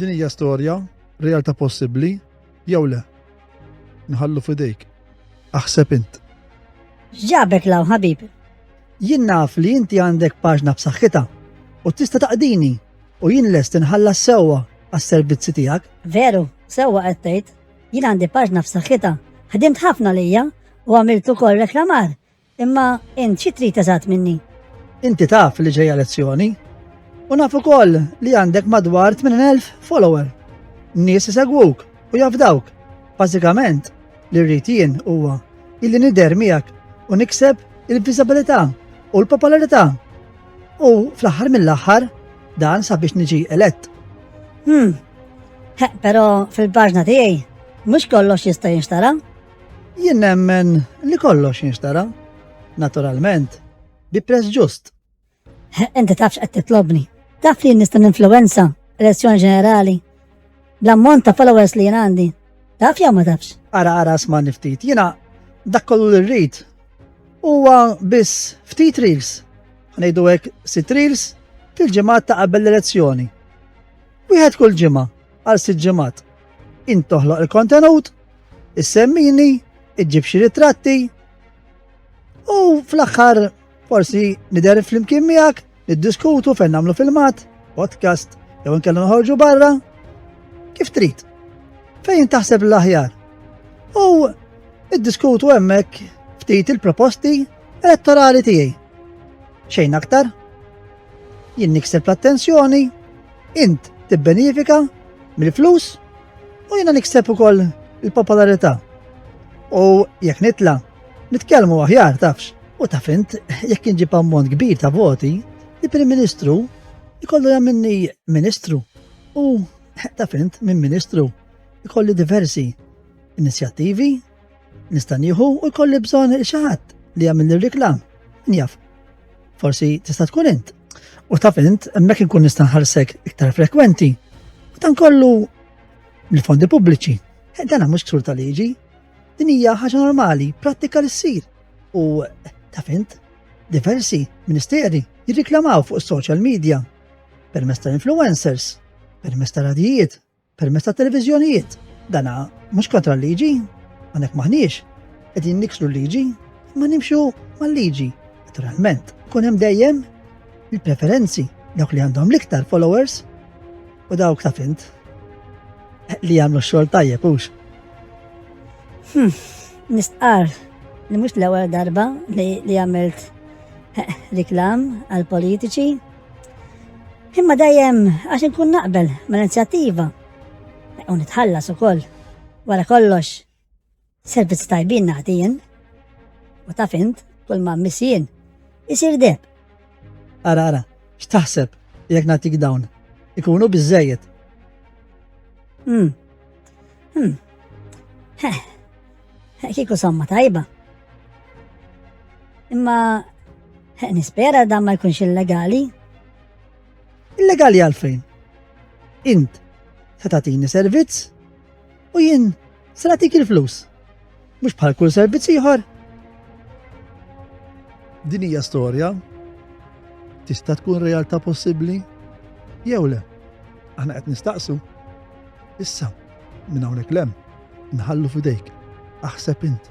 Din hija storja, realtà possibbli, jew le? Nħallu fidejk. Aħseb int. Ġabek law ħabib. Jien naf li inti għandek paġna b'saħħitha u tista' taqdini u jien lest inħallas sewwa għas-servizzi tiegħek. Veru, sewwa qed tgħid. Jien għandi paġna f'saħħitha, ħdimt ħafna lejja u għamilt ukoll reklamar, imma int xi trid eżatt minni? Inti taf li ġejja lezzjoni u naf ukoll li għandek madwar 80,000 follower. Nies isegwuk u jafdawk. Bażikament, li rrid jien huwa illi nidher miegħek u nikseb il-viżabilità u l-popolarità. U fl-aħħar mill-aħħar Dan sabiex niġi elett. Hmm. Pero fil-paġna tiegħi mhux kollox jista' jinxtara. Jien nemmen li kollox jinxtara, naturalment, bi prezz ġust. Inti tafx qed titlobni. Taf li nista' ninfluwenza elezzjoni ġenerali L-ammont ta' followers li jien għandi. Taf jew ma tafx? Ara ara sma' niftit. Jiena dak kollu li rrid huwa biss ftit reels. Ħnejdu hekk sit reels fil-ġimgħat ta' qabel l-elezzjoni. Wieħed kull ġimgħa għal sitt ġimgħat. Int toħloq il-kontenut, issemmini, iġġib xi ritratti u fl-aħħar Forsi nidher flimkien miegħek, niddiskutu fejn nagħmlu filmat, podcast, jew nkella noħorġu barra. Kif trid? Fejn taħseb l-aħjar? U iddiskutu hemmhekk ftit il-proposti elettorali tiegħi. Xejn aktar? Jien nikseb l-attenzjoni, int tibbenifika mill-flus u jiena nikseb ukoll il-popolarità. U jekk nitla' Nitkellmu aħjar tafx, u taf int jekk inġib ammont kbir ta' voti, li Prim Ministru jkollu jagħmilni Ministru u taf int minn Ministru jkolli diversi inizjattivi nista' nieħu u jkolli bżonn xi ħadd li jagħmel ir-reklam. Njaf. Forsi tista' tkun int. U taf int hemmhekk inkun nista' nħarsek iktar frekwenti. U dan kollu mill-fondi pubbliċi. Dan mhux ksur ta' liġi, Din hija ħaġa normali, prattika li ssir. U ta' fint, diversi ministeri jirriklamaw fuq is-social media permezz tal-influencers, permezz tal-radijiet, permezz tal-televiżjonijiet. Dana mhux kontra l-liġi, għandek maħniex, qegħdin niksru l-liġi, ma nimxu mal-liġi. Naturalment, kun hemm dejjem il-preferenzi dawk li għandhom l-iktar followers U dawk taf int li jagħmlu xogħol tajjeb hux. Hmm, nistqar li mhux l-ewwel darba li għamilt eh, riklam għal politiċi. Imma dejjem għax inkun naqbel mal-inizjattiva u nitħallas ukoll wara kollox. Servizz tajbin naħdien, u taf int, kull ma missien, isir deb. Ara, ara, x'taħseb jekk nagħtik dawn? Ikunu biżejjed. Hmm. Hmm. Heh. Kieku somma tajba. Imma nispera dan ma jkunx illegali. Illegali għalfejn? Int, ta' tatini servizz? U jien se nagħtik il-flus. Mhux bħal kull servizz ieħor. Din hija storja tista' tkun realtà possibbli jew le. Aħna qed nistaqsu. Issa, minn hawnhekk lem, nħallu fidejk, aħseb int.